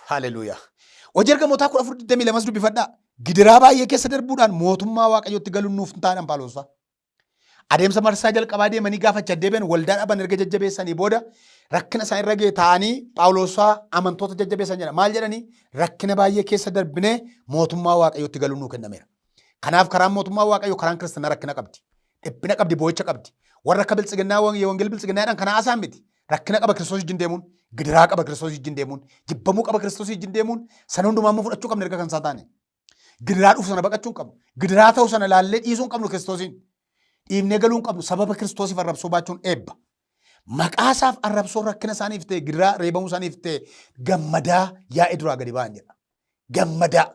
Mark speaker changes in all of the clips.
Speaker 1: Haleluuyaa. Hojii ergamootaa 14:22 dubbifadhaa. Gidiraa baay'ee keessa darbuudhaan mootummaa Waaqayyootti galuun nuuf hin taadhaan Phaawulos fa'a. Adeemsa marsaa jalqabaa deemanii gaafa achi deebi'an waldaa dhaban erga jajjabeessanii booda rakkina isaan irra ga'e taa'anii Phaawulos fa'a amantoota jajjabeessan jedha. Maal jedhanii? Rakkina baay'ee keessa darbinee mootummaa Waaqayyootti galuun nuu kennameera. Kanaaf karaan mootummaa Waaqayyoo karaan kiristanaa rakkina qabdi. Dhiphina qabdi, boo'icha qabdi. Warra akka biltsiginnaa wangeel biltsiginnaadhaan kana haasaan miti. Rakkina qaba Kiristoos wajjin deemuun, gidiraa qaba Kiristoos wajjin deemuun, jibbamuu qaba Kiristoos wajjin deemuun, sana hundumaa immoo fudhachuu qabna erga kan isaa taane. Gidiraa dhufu sana baqachuu hin qabnu. Gidiraa ta'u sana laallee dhiisuu hin qabnu Kiristoosiin. Dhiibnee galuu hin qabnu. Sababa Kiristoosiif arrabsoo baachuun eebba. Maqaa isaaf arrabsoo rakkina isaaniif ta'e, gidiraa reebamuu isaaniif ta'e gammadaa yaa'ee duraa gadi ba'an jedha. gammadaa.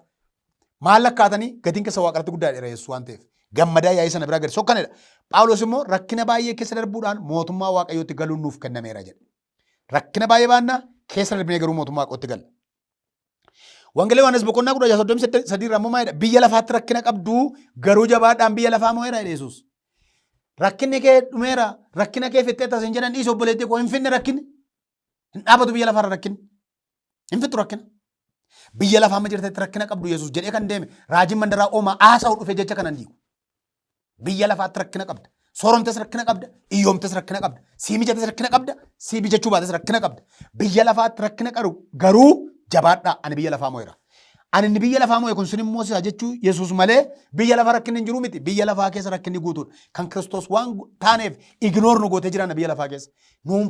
Speaker 1: Maal lakkaatanii gatiin keessa waaqarratti guddaa dheera Yesuus waan ta'eef. Gammadaa yaa'ii sana biraa gadi sokkanidha. Phaawulos immoo rakkina baay'ee keessa darbuudhaan mootummaa waaqayyootti galuun nuuf kennameera jedhe. Rakkina baay'ee baannaa keessa darbinee garuu mootummaa waaqayyootti galla. Wangeela Yohaannis boqonnaa kudha jaha soddomii sadii irraa immoo maal jedha? Biyya lafaatti rakkina qabdu garuu jabaadhaan biyya lafaa moo'eera jedhe Yesuus. Rakkinni kee dhumeera, rakkina kee fixxeetta isin jedhan dhiisi obboleettii koo hin finne rakkinni. Hin dhaabatu biyya lafaarra rakkin. Hin fixu rakkina. Biyya lafaa amma jirtetti rakkina qabdu Yesuus jedhee kan deeme raajiin mandaraa oomaa haasa'u dhufe jecha kanan diigu. Biyya lafaatti rakkina qabda. Sooromtes rakkina qabda. Iyyoomtes rakkina qabda. Sii mijates rakkina qabda. Sii mijachuu baates rakkina qabda. Biyya lafaatti rakkina qabu garuu jabaadhaa ani biyya lafaa moo'eera. Ani inni biyya lafaa moo'e kun sin immoo si'a jechuu Yesuus malee biyya lafaa rakkinni hin jiru miti. Biyya lafaa keessa rakkinni guutuudha. Kan Kiristoos waan taaneef ignoor nu gootee jiraanna biyya lafaa keessa. Nuun